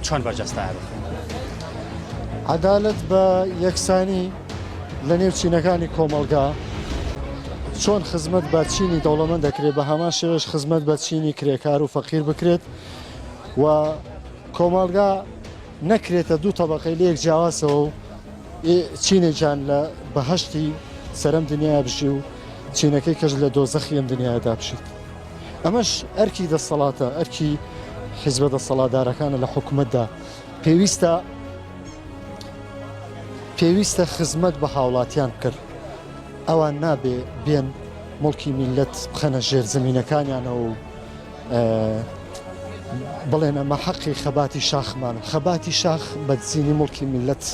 چۆن بەرجەستە بکەین عەدالەت بە یەکسانی لە نێو چینەکانی کۆمەڵگا، چۆن خزمەت بە چینی دەوڵەمەند دەکرێت بە هەمان شێوەش خزمەت بە چینی کرێکار و فەقیر بکرێت و کۆمەڵگا نەکرێتە دوو تەبەقەی لە یەک جیاوازەوە و چینێکیان لە بەهەشتی سەرەم دنیای بژی و چینەکەی کەش لە دۆزەخی ئەم دنیادا بژیت. ئەمەش ئەرکی دەسەڵاتە ئەرکی حیزبە دەسەڵاتدارەکانە لە حکوومەتدا پێویستە پێویستە خزمەت بە هاوڵاتیان کرد ئەوان نابێ بێن مڵکی میلەت بخەنە ژێر زمینەکانیانەوە و بڵێن ئەمە حەقی خەباتی شاخمان خەباتی شاخ بەدزینی مڵکی میلەت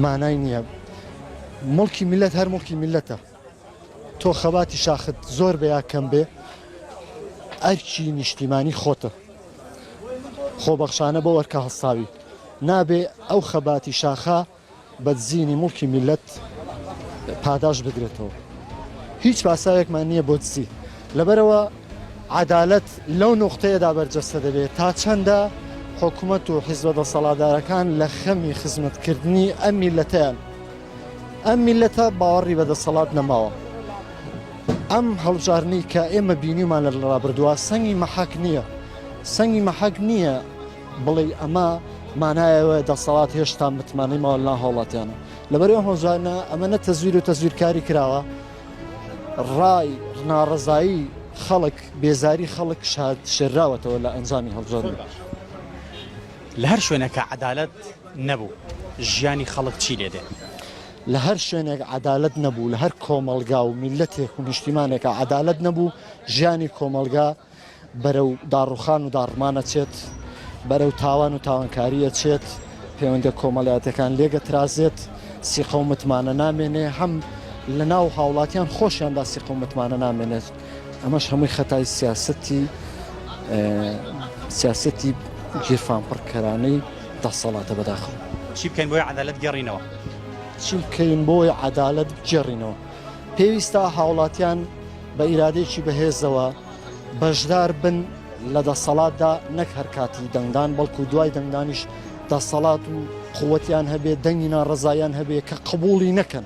مانای نییە مڵکی میلەت هەر مڵکی میلەتە تۆ خەباتی شاخت زۆر بێ یا کەم بێ ئەرکی نیشتیمانی خۆتە خۆبەخشانە بەو ئەرکە هەڵساوی نابێ ئەو خەباتی شاخە بە دزینی موڵکی میللەت پاداشت بدرێتەوە هیچ پاساوێکمان نییە بۆ دزی لەبەرئەوە عەدالەت لەو نوقتەیەدا بەرجەستە دەبێ تا چەندە حکومەت و حیزبە دەسەڵاتدارەکان لە خەمی خزمەتکردنی ئەم میللەتەیان ئەم میلەتە باوەڕی بە دەسەڵات نەماوە ئەم هەڵبژاردنەی کە ئێمە بینیمان لە ڕابردووە سەنگی مەحەک نییە سەنگی مەحەک نییە بڵێ ئەمە مانایەوە دەسەڵات هێشتا متمانەی ماوە لا هاوڵاتیانە لەبەرەوە هۆزانە ئەمە نە تەزویر و تەزویرکاری کراوە ڕای ناڕزایی خەڵک بێزاری خەڵک شاد شێراوەتەوە لە ئەنجامی هەڵبژاردن لە هەر شوێنەکە عدالت نەبوو ژیانی خەڵک چی لێ دێ. لە هەر شوێنێک عەدالەت نەبوو لە هەر کۆمەڵگا و میللەتێک و نیشتیمانێکا عەدالەت نەبوو ژیانی کۆمەڵگا بەرەو داڕوخان و داڕمان ئەچێت بەرەو تاوان و تاوانکاری ئەچێت پەیوەندیە کۆمەڵایەتەکان لێگەترازێت سیقە و متمانە نامێنێ هەم لە ناو هاوڵاتیان خۆشیاندا سیقە و متمانە نامێنێت. ئەمەش هەمووی خەتای سیاسەتی سیاسەتی گیرفانپڕکەرانەی دەسەڵاتە بەداخەوە. چی بکەین بۆی عەدالەت گێڕینەوە؟ چی بکەین بۆی عەدالەت گێڕینەوە؟ پێویستە هاوڵاتیان بە ئیرادێکی بەهێزەوە بەشدار بن لە دەسەڵاتدا نەک هەر کاتی دەنگدان بەڵکو دوای دەنگدانیش دەسەڵات و قوتیان هەبێ دەنگی ناڕزایان هەبێ کە قبولی نەکەن.